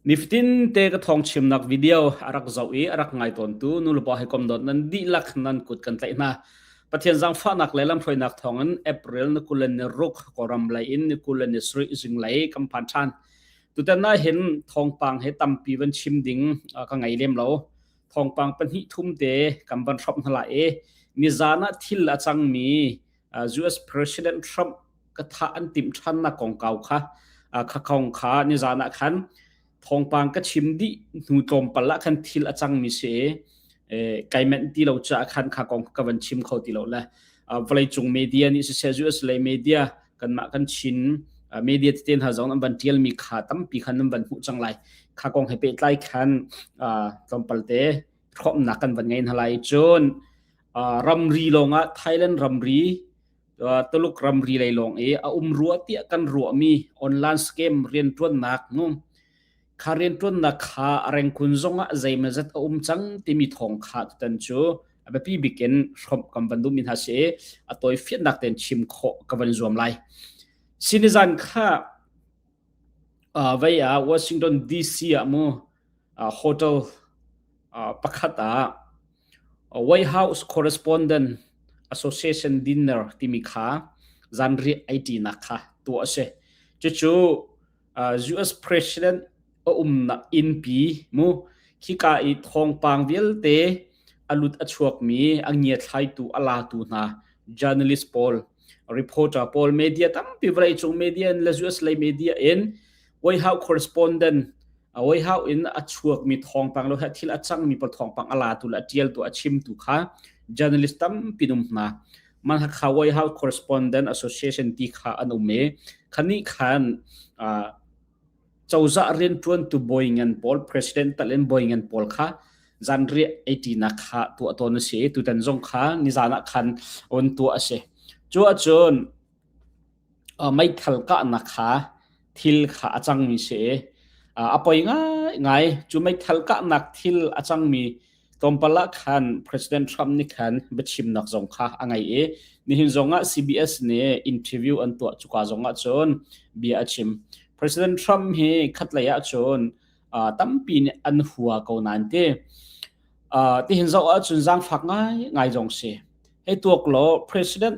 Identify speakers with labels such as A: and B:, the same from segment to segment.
A: Nifatinte ka thawngchimnak video a rak zoh i a rak ngai tawntu nulepa hawikom dot nan dihlak nan kut kan tlaih hna. Pathian zangfahnak le lamhruainak thawngin April ni kul le ni ruk Kawlram lei in ni kul le ni sarih zinglei kan phan ṭhan. Tutan ah hin thawngpang he tampi van chim ding uh, ka ngei lem lo. Thawngpang pahnih thum te kan van hrop hna la i nizan ah thil a cangmi US President Trump ka tha an tim than na kongkau kha kha kong kha ni zan ah khan thongpang ka chim di hnu tlawm pal ah khan thil a cang mi se kaimen ti lo cha khan kha kong ka van chim kho ti lo le vlei cung media ni se US le media kan ma kan chin media te hna zong an van tial mi kha tampi khan nan van mu chang lai kha kong he pe tlai khan tlawm palte khom na kan van ngai na lai chun ramri lawngah Thailand ramri Tuluk ramri lei lawng i a um rua tiah kan ruahmi online scam riantuannak nu kha riantuannak kha a rengkun zongah zeimazat a um cang timi thong kha tutan cu a biapi bikin hrawmh kan van duhmi hna si a toi fiannak ten chim kho ka van zuam lai sinizan kha uh, vaya Washington DC ah mu Hotel pakhat ah Warehouse Correspondent Association Dinner timi kha zanriah ai ṭinak kha tuah a si. Cucu US President a umnak innpi mu khika i thawngpang vialte a lut a chuakmi a ngiathlaitu a latu hna journalist pawl reporter pawl media tampi vawleicung media in le US lei media in Warehouse Correspondent a oihau in a chuak mi thawngpang lo he thil a cang mi pawl thawngpang a la tu le a tial tu a chim tu kha journalist tampi num hna man ha kha wai how correspondent association ti kha an um e khani khan chawza rian tuan tu boy ngan paul president talin boy ngan paul kha zan ri 80 na kha tu aton si tu tan zong kha ni zana khan on tu ase chu achun meithal kahnak kha thil kha a cangmi si i a poi ngaingai. Cu meithal kahnak thil a cangmi tlawmpal ah khan President Trump nih khan biachimnak zong kha a ngei i nihin zongah CBS nih interview an tuah cuka zongah cun bia a chim. President Trump hi khatlei ah cun tampi nih an hua ko nain ti tihin zoh ahcun zaangfak ngai ngai zong si. Hei tuak law President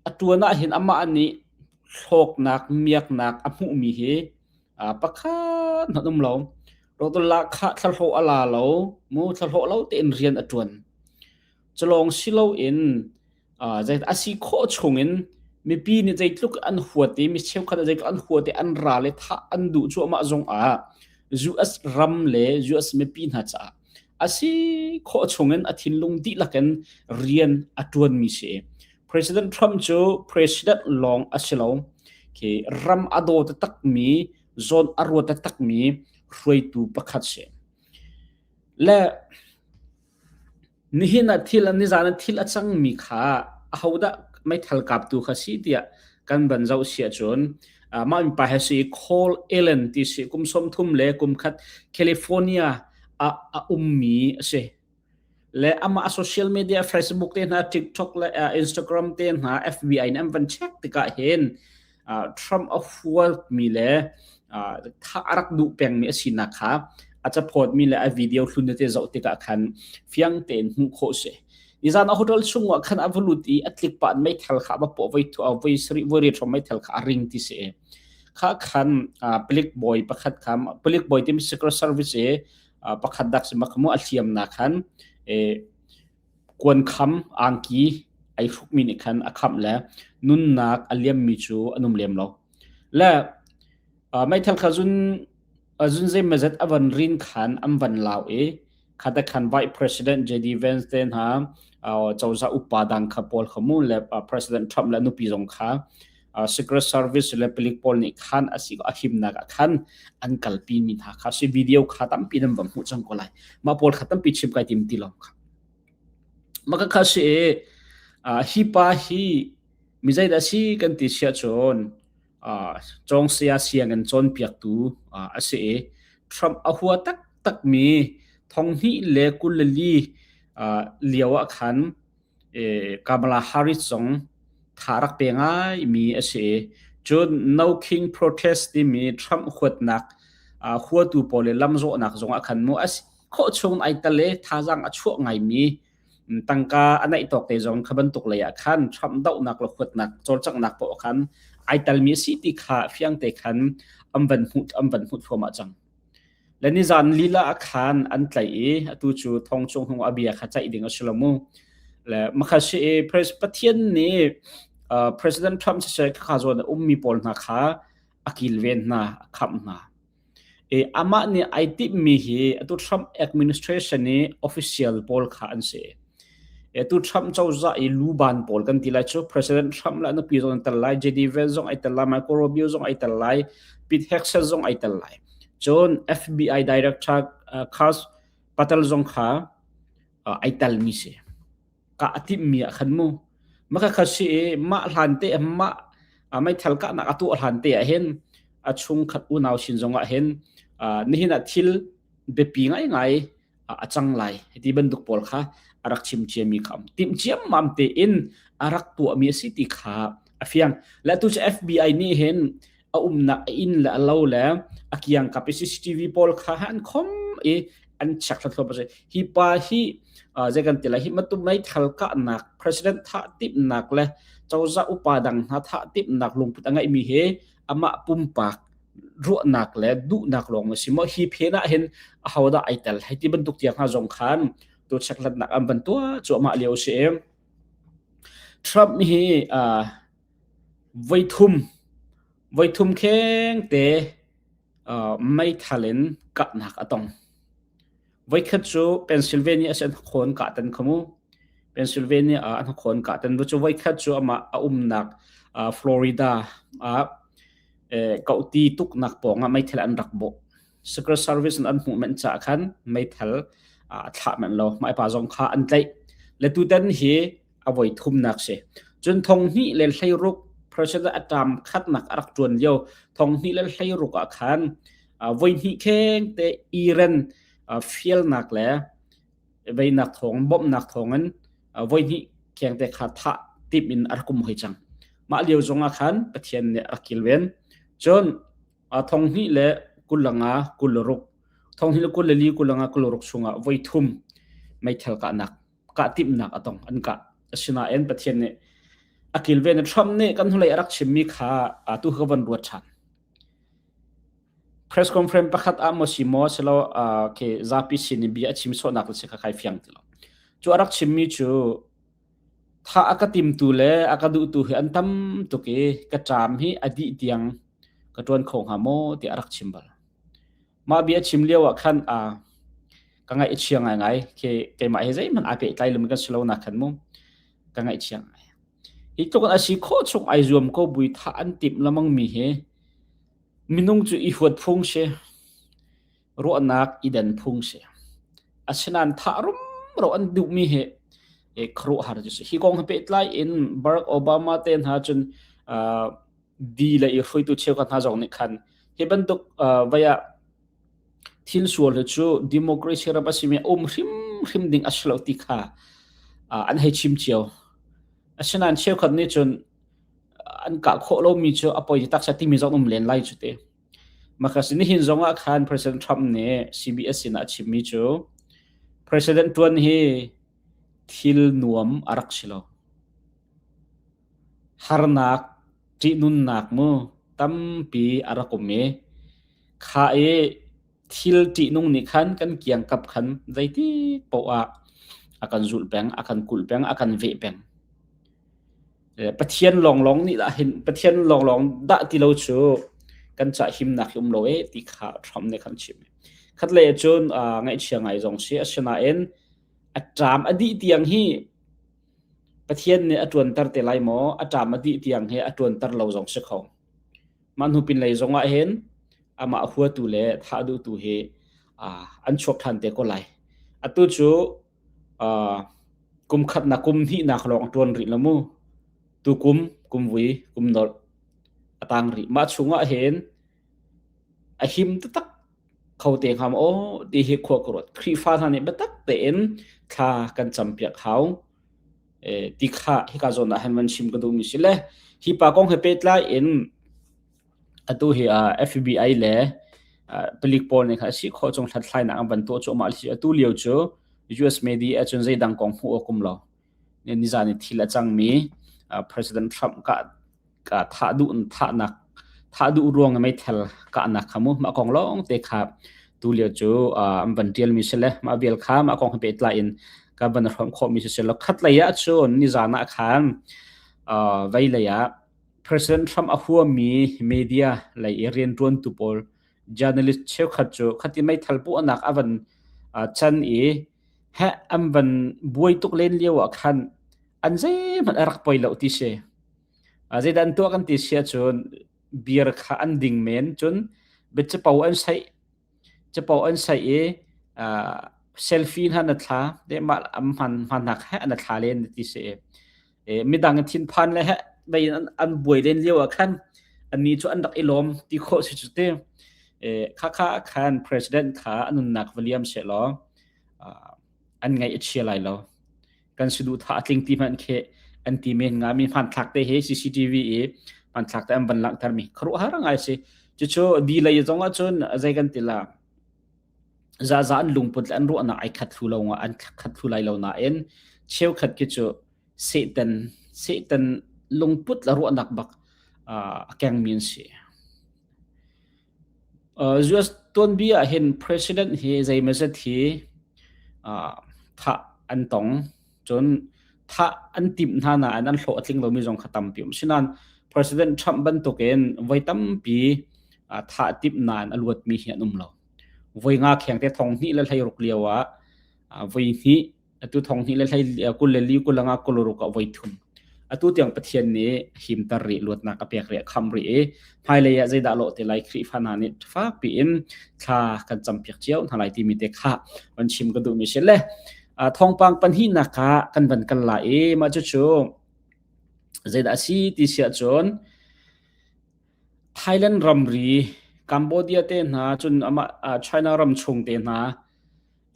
A: A ṭuan ahhin amah nih hlawknak, miaknak a hmuhmi hi pakhat hmanh um lo. Dr. Lahkhah thlahlawh a la lo, mu thlahlawh lo tein rian a ṭuan. Culawng si loin a si khawh chungin mipi nih zeitluk an huat i mi cheukhat zeitluk an huat i an ral i thah an duh cu amah zong ah US ram le US mipi hna caah a si khawh chungin a thinlung dihlak in rian a ṭuanmi si President Trump cu president lawng a si lo khi ram a daw takmi zon a ruat takmi hruaitu pakhat si le nihin a thil nizan a thil a cangmi kha ahodah meithal kaptu kha si tiah kan ban zo sia cun mah pa he si call Ellen ti si kum som thum le kum khat California ah a ummi a si le amah social media Facebook te hna TikTok le uh, Instagram te hna FB in an van check tikah hin uh, Trump a hual mi le uh, tha arak duh peng mi a sinak kha a chapot mi le a video hlun te zoh tikah khan fiang tein hmuh kho se izan a hotel chungwa khan avalut i atlik pan mei thel kha ba po vai thu a vai sri vai ri thom mei thel kha a ring ti se kha khan palik bawi pakhat kha palik bawi tim secret service e pakhat dak si makmu a thiam na khan e kuan kham angki ai hruk mi ni khan akham le nunnak aliam mi chu anum lem lo le mai thal kha zun Azun zeimazet avan rin khan an van lau i khata khan Vice President JD Vance te hna uh, coza upa dang kha pawl khamu le uh, President Trump le nupi zong kha uh, Secret Service le pilik pawl nih khan asi a himnak a khan an kalpi mi hna kha si video kha tampi nan va hmu chang ko lai ma pawl kha tampi chim kai tim ti lo kha maka kha si uh, hi pa hi mi zaida si kan ti sia chon cawngsaya sianginn cawnpiaktu a si i Trump a hua taktakmi thonghnih le kulali lio ah khan Kamala Harris zong tha rak pe ngaimi a si i cun No King Protest timi Trump huatnak huatu pawl le lamzawhnak zong ah khan maw a si khawh chung ai tel i thazaang a chuah ngaimi tangka a naih tawk te zong kha bantuk lei ah khan Trump dohnak le huatnak cawlcanghnak paoh khan ai telmi a si ti kha fiang te khan an van hmuh an van hmuh thuam ah cang le ni zan lila a khan an tlaih i atu cu thong chung hung a bia kha caih ding a si lo mu le makha si pathian nih president trump se kha zuan ummi pawl hna kha a kilven hna a khamh hna Amah nih ai timhmi hi atu Trump administration i official pawl kha an si. Atu Trump cozah i luban pawl kan ti lai cu President Trump le nupi zong an tel lai, J.D. Vance zong ai tel lai, Marco Rubio zong ai tel lai, Pete Hegseth zong ai tel lai. Cun FBI director Carl Patel zong kha ai telmi si. ka a timhmi ah khan mu maka kha si i mah hlan te mah meithal kahnak a tuah hlan te ah hin a chung khat unau sin zongah hin nihin ah thil biapi ngai ngai a cang lai ti bantuk pawl kha a rak chim ciami kha am timh ciam mam te in a rak tuahmi a si ti kha a fiang le tu cu FBI nih hin a umnak a inn le a lo le a kiangkap i CCTV pawl kha han khom i an chek thlathluam a si hi pa hi zei kan tila hi matu mei thal kahnak president tha timnak le coza upa dang hna tha timnak lungput a ngeihmi hi amah pumpak ruahnak le duhnak lawng a si mo hi phena hin a hoda ai tel hei ti bantuk tiang ha zong khan tu cheklatnak an bantua chu amah leo si Trump hi Voithum, voithum khengte meithal in kahnak a tong. Voikhat cu Pennsylvania a si an hnakhawn kahtan kha mu. Pennsylvania ah an hnakhawn kahtan. Cu voikhat cu amah a umnak Florida ah kohti tuknak pawng ah meithal an rak bawh. Secret Service in an hmuh men caah khan meithal a thlah men lo. Mah pa zong kha an tlaih. Le tutan hi a voi thumnak si cun thong hnih le hleiruk pressure atam khatnak a rak tuan lio thong hnih le hleiruk ah khan voi hnih kheng te iren fielnak le veinak thong bawmhnak thongin voi hnih kheng te kha tha tip in a rakum hoi chang mah lio zong ah khan pathian nih a rak kilven cun thong hnih le kulanga kulruk thong hnih le kulli kulanga kulruk sungah voi thum meithal ka nak kah timnak a tong an kah asinain pathian nih a kilven Trump nih kan hnulei a rak chimmi kha atu kha van ruat ṭhan press conference pakhat ah mo si mo selo ke zapi sin in bia a chim sawhnak le si kha khai fiang ti lo cu a rak chimmi cu tha a ka timtu le a ka duhtu hi an tam tuk i ka ṭam hi a dih tiang ka ṭuan kho hnga maw ti a rak chim bal Mah bia a chim lio ah khan uh, ka ngaih a chia ngaingai. Ke keimah he zeihmanh aa pehtlai lomi kan si lo nak khan mu. Ka ngaih chia ngai. Hi tluk an asi kho chung ai zuam ko bui tha an tim lamang mi he minung cu i huat phung se ruahnak i den phung se asinan tha rum ro an duh mi he e khru har ju si hi kong ha pe tlai in Barack Obama te na chun uh, di le i hruitu cheukhat hna zong nih khan hi bantuk vaya thil sual hi cu democracy ram a simi um hrim hrim ding a si lo ti kha an hei chim cio asinain cheukhat nih cun an kah khawh lomi cu a poi taksa timi zong um len lai cu te Makasi ni hin zong ah khan President Trump nih CBS sin a chimmi cu President tuan hi thil nuam a rak si lo Harnak ṭihnunnak mu tampi a rak um i khah i thil ṭihnung nih khan kan kiangkap khan zeitik paoh ah a kan zulh peng, a kan kulh peng, a kan veh peng. Pathian lawnglawng nih dah hin Pathian lawnglawng dah ti lo cu kan cah himnak hi um lo e ti kha Trump nih khan chim. Khat lei ah cun ngaihchia ngai zong si, asinain a ṭam a dih tiang hi Pathian nih a ṭuanter te lai maw? A ṭam a dih tiang hi a ṭuanter lo zong si kho. Mah hnu pinlei zong ah hin amah a huatu le thah duhtu hi uh, an chuak ṭhan te ko lai. Atu cu uh, kum khatnak kum hnihnak lawng a ṭuan rih lo mu. Tu kum, kum vui, kum nolh a tang rih. Mah chung ah hin A him taktak kho te hnga maw? Ti hi khua ka ruat. Khrihfa hna nih biatak tein thla kan campiak hau. Eh, ti kha hika zawn ah han van chim ka duhmi si le hi pa kong he pehtlai in atu hi uh, FBI le uh, palik pawl nih kha si kho chung hlathlainak an van tuah cu amah atu lio cu US media cun zeidang kong hmuh awkum lo nizaan i thil a cangmi President Trump ka thah duh thahnak thah duh ruang i meithal kahnak kha mu mah kong lawng te kha tu lio cu an van tialmi si le mah vial kha mah kong he pehtlai in ka van hrawm khawhmi si si lo khat lei ah cun nizaan ah khan vei lei ah President Trump a huami media lei i riantuantu pawl journalist cheukhat cu khati meithal puahnak a van chan i heh an van buai tuk len lio ah khan an zeihmanh a rak poi lo ti si a zeidah an tuah kan ti sia cun beer kha an ding men cun bia capo an sai capo an sai i selfie hna na thla de ma am hman hman nak he na thla len ti si midang thinphan le he dei an an buai len lio ah khan anni cu an rak i lawm ti khawh si cu ti kha kha khan president kha anunnak va liam she law an ngaih a chia lai lo kan si duh tha a tling ti hman khe an ti men nga mi hman thlak te he CCTV i hman thlak te an ban lang thar mi khru har ngai si chu chu di lei zong a chun azai kan tila zaza an lungput le an ruahnak ai khat thlu lo nga an khat thlu lai lo nain cheukhat khi cu satan satan lungput la ruahnak bak a keng min si US tuanbia hin president hi zeimazat hi tha an tong cun thah an timh hna nain an hlawh a tling lomi zong kha tampi um si nain President Trump bantukin voi tampi thah timh nain a luatmi hi an um lo voi nga kheng te thong hnih le hlei ruk lio ah voi hnih atu thong hnih le hlei kul le li kul anga kul ruk ah voi thum atu tiang pathian nih himtar ri luatnak a pek ri kham ri i hmailei ah zeidah lo te lai khrihfa hna nih fak piin thla kan cam piak cio hna lai timi te kha van chim ka duh mi si le thawngpang pahnihnak kha kan van kan la i mah cucu zeidah a si ti si ahcun Thailand ramri Cambodia te hna cun amah China ram chung te hna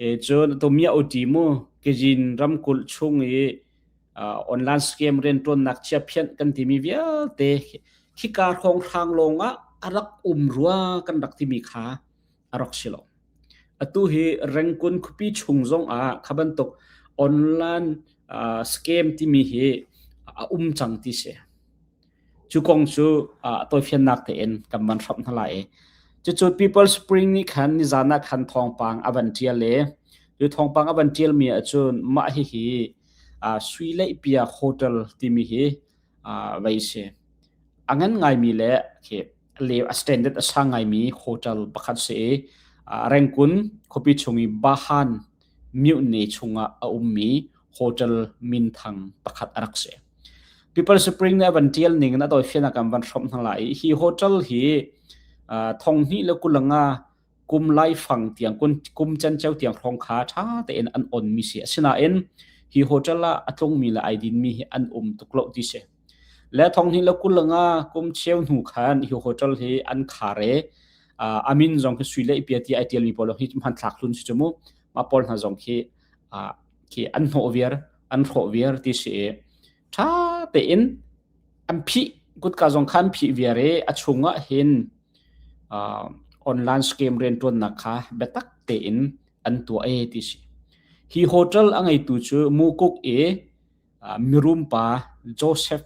A: e cun to mia utimu kejin ramkulh chung i online scam rian tuannak chia phian kan timi vialte khika khong hrang longah a rak um rua kan rak timi kha a rak si lo. Atu hi Rengkun khuapi chung zongah kha bantuk online uh, scam timi hi a um cang ti si. Cu kong cu uh, toifiannak tein kan man hram hna lai. Cucu People Spring nih khan nizan ah khan thawngpang a van tial le cu thawngpang a van tial mi ahcun mah hi hi uh, Sui Lei Pia Hotel timi hi vei si. A ngan ngaimi le a standard a sang ngaimi hotel pakhat si i Rengkun khuapi chung i Bahan mutiny chungah a ummi hotel minthang pakhat a rak si. People Spring na van tial ning na doi fian akam van hrom hna lai. Hi hotel hi thong hnih le kulanga kum laifang tiang kum cenceu tiang hrawng kha ṭha tein an onmi si asinain hi hotel ah a tlungmi le ai dinmi hi an um tuk lo ti si le thong hin la kulanga kum cheu hnu khan hi hotel hi an khare amin zong khi sui lei pia ti ai tialmi pawl hi hman thlak hlun si chumu ma pawl hna zong khi khi an hnawh viar an hrawh viar ti si ṭha tein an phih kutka zong kha an phih viar i a chungah hin uh, online scam rianṭuannak kha biatak tein an tuah e ti si hi hotel a ngeitu cu mukuk i uh, mirum pa Joseph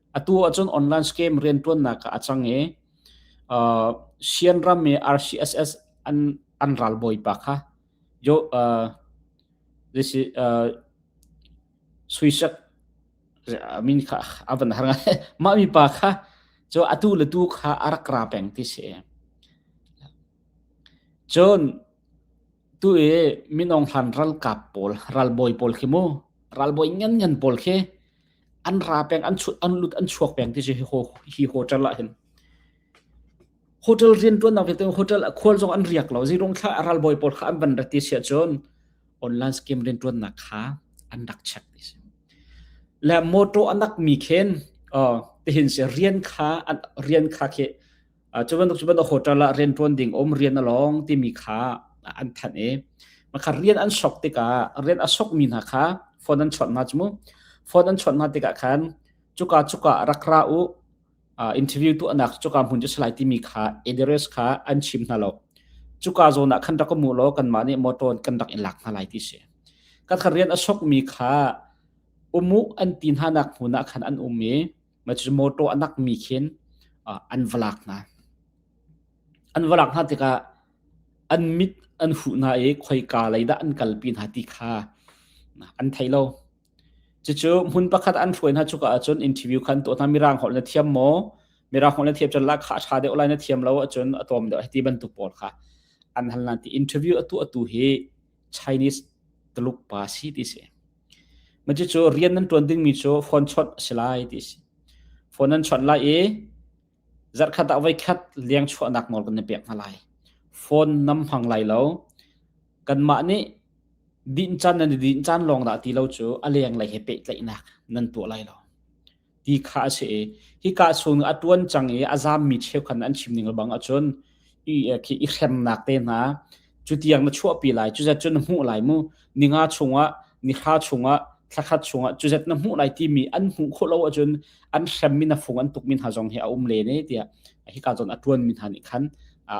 A: atu ahcun online scam riantuannak ah a cang i uh, Sian ram i RCSS an an ral bawi pa kha yo uh, this is uh, suisak I mean kha avan har ma mi pa kha cho atu le tu kha arak ra peng ti se chon tu e minong hlan ral kap pol ral boy pol khi mu ral boy ngan ngan pol khi an ra peng an chut an lut an chuak peng ti si hi hotel ah hin hotel rian tuan nak te hotel khual zong an riak lo zirong thla aral boy pawl kha an ban rati sia chon online scheme rian tuan nak kha an dak check ti si le moto anak mi khen te hin se rian kha rian kha ke cu bantuk cu bantuk hotel ah rianṭuan ding um rian a lawng timi kha an thanh i makha rian an sok tikah rian a sokmi hna kha phone an chawnh hna cu mu phone an chawnh hna tikah khan cuka cuka rak ra u interview tu anak cuka hmun cu salai timi kha address kha an chim hna lo cuka zawn ah khan rak mu law kanmah nih motor kan rak in lak hna lai ti si ka kha rian a sokmi kha umu an ti hna nak hmun ah khan an um i ma cu motor anak mi khin an va lak hna an va lak hna tikah an mit an huh hna i khoika lei dah an kalpi hna ti kha an thei lo cucu hmun pakhat an hruai hna cuka ahcun interview khan to hna mirang holh na thiam maw mirang holh na thiam cun la kha a tha deuh lai na thiam lo ahcun a tawm deuh ti bantuk pawl kha an hal nan ti interview atu atu hi Chinese tuluk pa si ti si Cucu rian nan ṭuan dingmi cu phone chawnh a si lai ti a si. Phone nan chawnh lai i zarhkhat ah voikhat lengchuahnak nawl kan i pek hna lai. Phone nam hmang lai lo. Kanmah nih dinh can nan i dinh caan lawng dah ti lo cu a lenglei he pehtlaihnak nan tuah lai lo. ti kha a si i hika chung a tuan cang i a zammi cheukhan an chim ning lebang ahcun i khi i hremnak te hna cu tiang na chuahpi lai cuzet cun na hmuh lai mu ninga chungah nihra chungah thlakhat chungah cuzet na hmuh lai timi an hmuh khawh lo ahcun an hremmi na fung an tukmi hna zong hi a um le ne tiah hika zon a tuan mi hna nih khan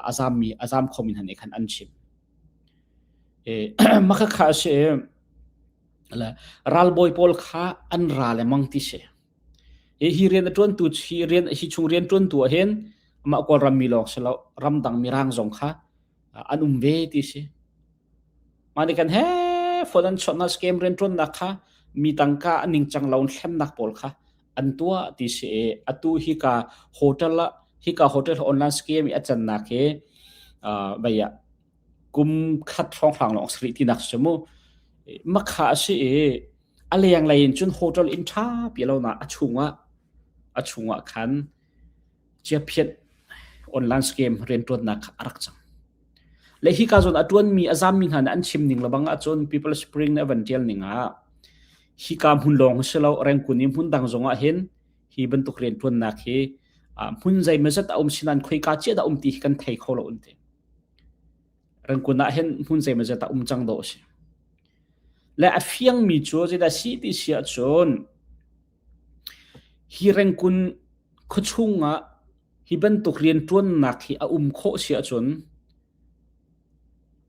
A: a zammi a zam khomi hna nih khan an chim e makhakha a si le ralbawi pawl kha an ra le mang ti si hi hi rian a tuantu chi rian hi chung rian tuantu ah hin ma kol ram mi lawng si lo ram dang mi rang zong kha an um ve ti si mani kan he fodan chona scam rian tuan nak kha mi tangka an ning chang laun thlem nak pawl kha an tua ti si atu hi ka hotel hi ka hotel online scam i achan nak hi baya kum khat hrawnghrang lawng sarih tinak cu mu makha a si i a lenglei in cun hotel inn ṭha pi lonak a chungah a chungah khan chiaphiat online scam rianṭuannak kha a rak cang le hi ka zon a ṭuanmi a zammi hna nih an chim ning lebang ahcun people spring na van ṭial ning ah hi ka hmun lawng si lo rengkun i hmun dang zongah hin hi bantuk rianṭuannak hi hmun zei mazat a um sinan khoi ka cia da um ti hi kan thei kho lo unte Rangkun ah hin hmun zeimah zedah um cang dawh a si. Le a fiangmi cu zeidah si ti si ahcun hi rangkun khuachung ah hi bantuk rianṭuannak hi a um khawh si ahcun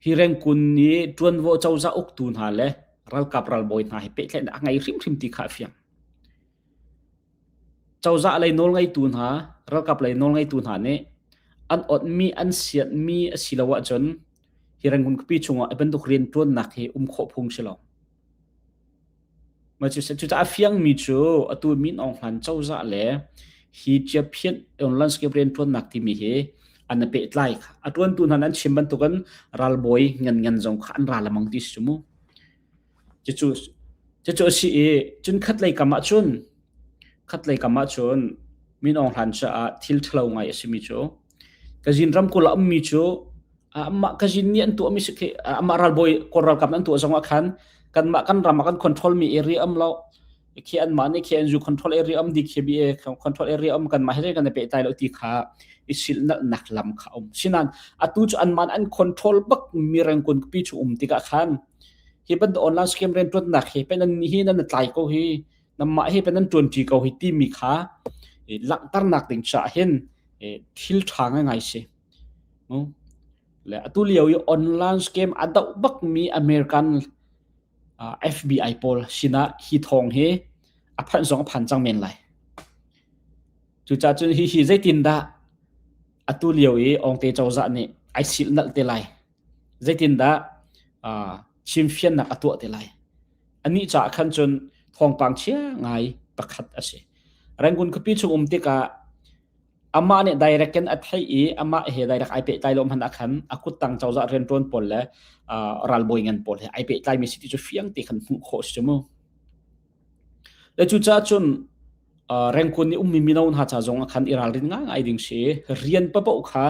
A: hi rangkun nih ṭuanvo cozah uktu hna le ralkap ralbawi hna he pehtlaihnak a ngei hrimhrim ti kha a fiang. Cozah lei nawlngeitu hna, ralkap lei nawlngeitu hna nih an onhmi, an sianhmi a si lo ahcun hi Rangoon khuapi chungah hi bantuk rianṭuannak hi um khawh phung si lo. Cucaah a fiangmi cu atu Min Aung Hlain cozah le hi Chiaphin landscape rianṭuannak timi hi an i pehtlai kha. A ṭuantu hna nan chim bantukin ralbawi nganngan zong kha an ra lamang ti si cu mu. Cucu a si i cun khatlei kam ahcun khatlei kam ahcun min Aung Hlan caah thil ṭhalo ngai a simi cu Kazin ramkulh ah ummi cu amah Kazin nih an tuahmi amah ralbawi Kawl ralkap an tuah zongah khan kanmah kan ram ah kan controlmi area um lo khi anmah nih khi an zu control area um DKBA control area um kanmah he kan i pehtai lo ti kha i silnalnak lam kha a um sinain atu cu anmah an control bak mi rengkun pi cu um tikah khan Hi bantuk online scam rianṭuannak hi pei nan hi nan i tlai ko hi, nanmah hi pei nan ṭuanṭi ko hi timi kha i langhternak ding caah hin i thil ṭha ngaingai si. Le atu lio i online scam a doh bakmi American uh, FBI pawl sinah hi thawng hi a phanh zong a phan cang men lai. Cucaah cun hi hi zeitindah atu lio i Ong Te Cozah nih ai silhnalh te lai. zeitindah chimfiannak a tuah te lai anih caah khan cun thawngpang chia ngai pakhat a si rangun khuapi chung um tikah amah nih direct in a thei i amah he direct ai pehtlai lo hman khan a kuttang cozah rianṭuan pawl le ralbawi ngan pawl he ai pehtlaimi siti cu fiang te kan hmuh khawh si cu mu le cucaah cun rengkun nih ummi mino hna ca zong khan i ralrin ngai ngai ding si rian papoh kha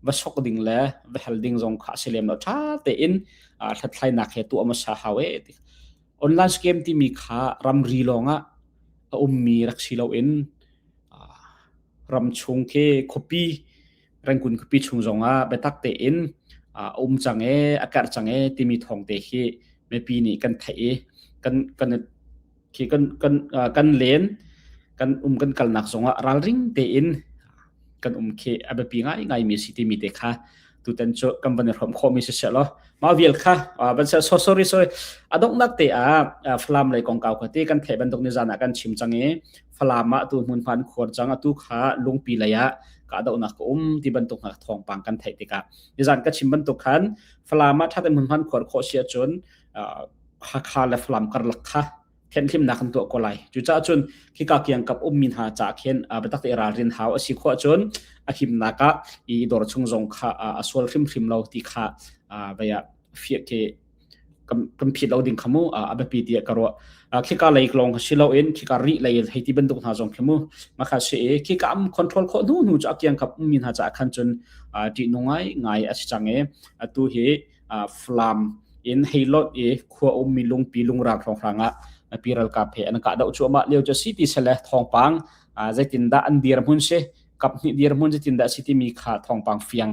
A: va sok ding le va hel ding zong kha a si lem lo ṭha tein hlathlainak he tuah hmasa hau e online scam timi kha ramri lawngah a ummi rak si loin ram chung khi khuapi rengkun khuapi chung zongah biatak tein a um cang e a karh cang e timi thawngte hi mipi nih kan theih i kan kan khi kan kan kan len kan um kan kalnak zongah ralring tein kan um khi abiapi ngai ngai mi si ti mi te kha tutan cu kan ban hrom kho mi si se lo ma vial kha ban se so sorry sorry adok nak te a falam lei kong kaw khati kan thei bandok ni zana kan chim changi falam ma tu mun pan khor chang atu kha lungpi laya ka adok nak um ti bantuk na thong pang kan thei tika nizan ka chim bantuk khan falama thatan mun pan khor kho sia chun Hakha le Falam karlak kha thianhlimnak kan tuah ko lai. Cucaah cun khika kiang kap ummi hna ca khin biatak te ralrin hau a si khawh cun a himnak ah i dor chung zong kha a sual hrimhrim lo ti kha baya fiak ke kan phit lo ding khamu a biapi ti ka ruah khika lei long ha silo in khika ri lei hei ti bantuk hna zong khamu makha se khika am control kho nu nu chu akiang kap mi hna cha khan chun ti nungai ngai a si change atu hi Falam in heilot i khua ummi lungpi lungrang hrawnghrang ah pi ralkap he an kah doh cuahmah lio cu city sele thawngpang zeitindah an dirhmun si kaphnih dirhmun zeitindah si timi kha thawngpang fiang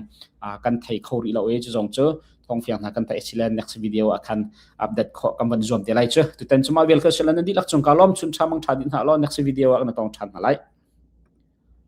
A: kan thei kho rih lo i cu zong cu thawng fiang hna kan thei silen next video ah khan update kho kan van zuam te lai cu tutan cuma vel kha silan an dihlak cung ka lom chun tha mang tha dit hna lo next video ah na tong than hna lai